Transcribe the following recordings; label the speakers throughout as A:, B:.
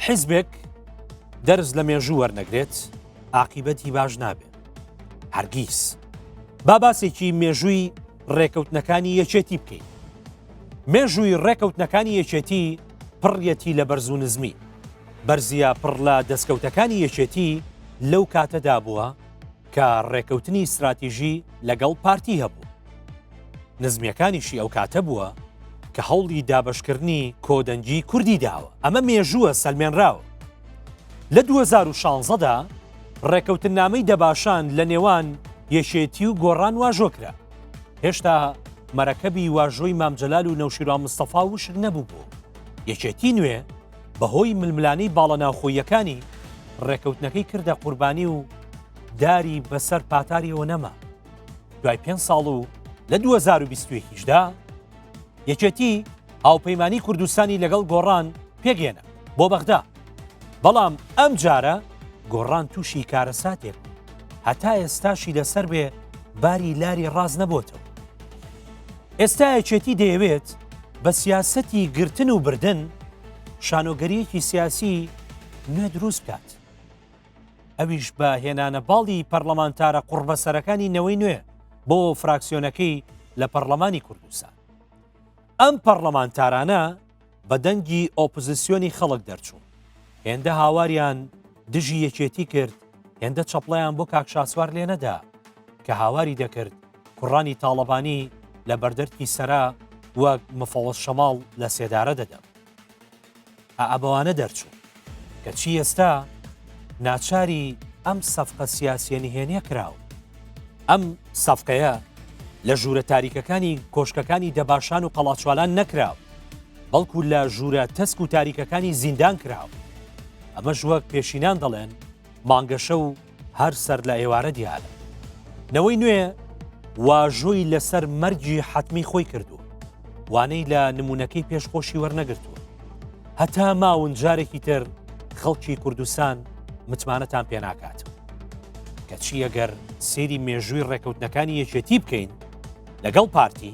A: حیزبێک دەرز لە مێژوو وەرنەگرێت ئاقیبەتی باش نابێت هەرگیز با باسێکی مێژووی ڕێکەوتنەکانی یەکێتی بکەین مێژووی ڕێکەوتنەکانی یەکێتی پڕیەتی لە بەرز و نزمی بەرزیە پڕ لە دەستکەوتەکانی یەکێتی لەو کاتەدا بووە کە ڕێکەوتنی ستراتیژی لەگەڵ پارتی هەبوو نزمیەکانیشی ئەو کاتە بووە کە هەوڵی دابشکردنی کۆدەنگی کوردی داوە ئەمە مێژووە سەلمێنراوە لە 2016دا ڕێکەوتن نامەی دەباشان لە نێوان یەکێتی و گۆڕان واژۆ کرا هێشتا مەرەکەبی واژۆی مامجلال و نەوشیرا مستەفا وشک نەبوو بوو یەکێتی نوێ بەهۆی ململانێی باڵە ناوخۆییەکانی، ڕێکەوتنەکەی کردە قوربانی و داری بەسەر پاتاریەوە نەما. دوای پێنج ساڵ و لە 2021 دا یەکێتی هاوپەیمانی کوردستانی لەگەڵ گۆڕان پێکهێنا بۆ بەغدا. بەڵام ئەم جارە گۆڕان تووشی کارەساتێک بوو. هەتا ئێستاشی لەسەر بێ باری لاری ڕاست نەبۆتەوە. ئێستا یەکێتی دەیەوێت بە سیاسەتی گرتن و بردن شانۆگەریەکی سیاسی نوێ دروست بکات. ئەویش بە هێنانە باڵی پەرلەمانتارە قوڕبەسەرەکانی نەوەی نوێ بۆ فراکسیۆنەکەی لە پەرلەمانی کوردستان. ئەم پەرلەمانتارانە بە دەنگی ئۆپزسیۆنی خەڵک دەرچوون هێندە هاواریان دژی یەکێتی کرد هێندە چەپڵیان بۆ کاک شاسوار لێ نەدا کە هاواری دەکرد کوڕانی تاڵەبانی لە بەردەرکی سەرا وەک مفەوەز شەماڵ لە سێدارە دەدەم ئابەوانە دەرچوو کەچی ئێستا ناچاری ئەم سەفقە سیاسیە نهێنیە کراوە. ئەم سەفقەیە لە ژوورە تاریکەکانی کۆشکەکانی دەباشان و قەڵاچوالان نەکراوە. بەڵکو لە ژوورە تەسک و تاریکەکانی زیندان کراوە. ئەمەش وەک پێشینان دەڵێن مانگەشە و هەر سەر لە ئێوارە دیارە. نەوەی نوێ واژۆی لەسەر مەرگی حەتمی خۆی کردووە. وانەی لە نمونونەکەی پێش خۆشی وەرنەگرتووە. هەتا ماون جارێکی تر خەڵکی کوردستان متمانەتان پێناکات. کەچی ئەگەر سێری مێژووی ڕێکەوتنەکانی یەکێتی بکەین لەگەڵ پارتی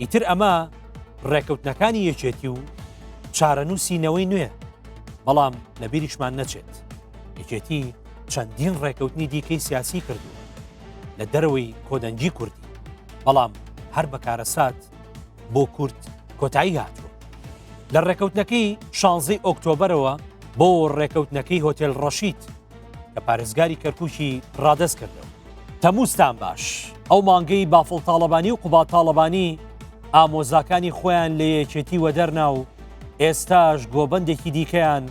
A: ئیتر ئەمە ڕێکەوتنەکانی یەکێتی و چارەنووسی نەوەی نوێ بەڵام لە بیریشمان نەچێت یەکێتی چەندین ڕێکەوتنی دیکەی سیاسی کردو لە دەرەوەی کۆدەنگی کوردی بەڵام هەر بەکارەسات بۆ کورد کۆتایی هاتووە لە ڕێکەوتنەکەی شانزەی ئۆکتۆبرەوە بۆ ڕێکەوتنەکەی هۆتێل ڕەشید لە پارێزگاری کەرکوکی ڕادەست کردەوە. تەمووزتان باش ئەو مانگەی بافڵ تاڵەبانی و قوبا تاڵەبانی ئامۆزاکانی خۆیان لە یەکێتی وەدەرنا و ئێستاش گۆبندێکی دیکەیان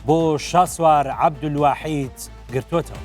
A: بۆ شاسوار عەبدولواحید گرتوتەوە.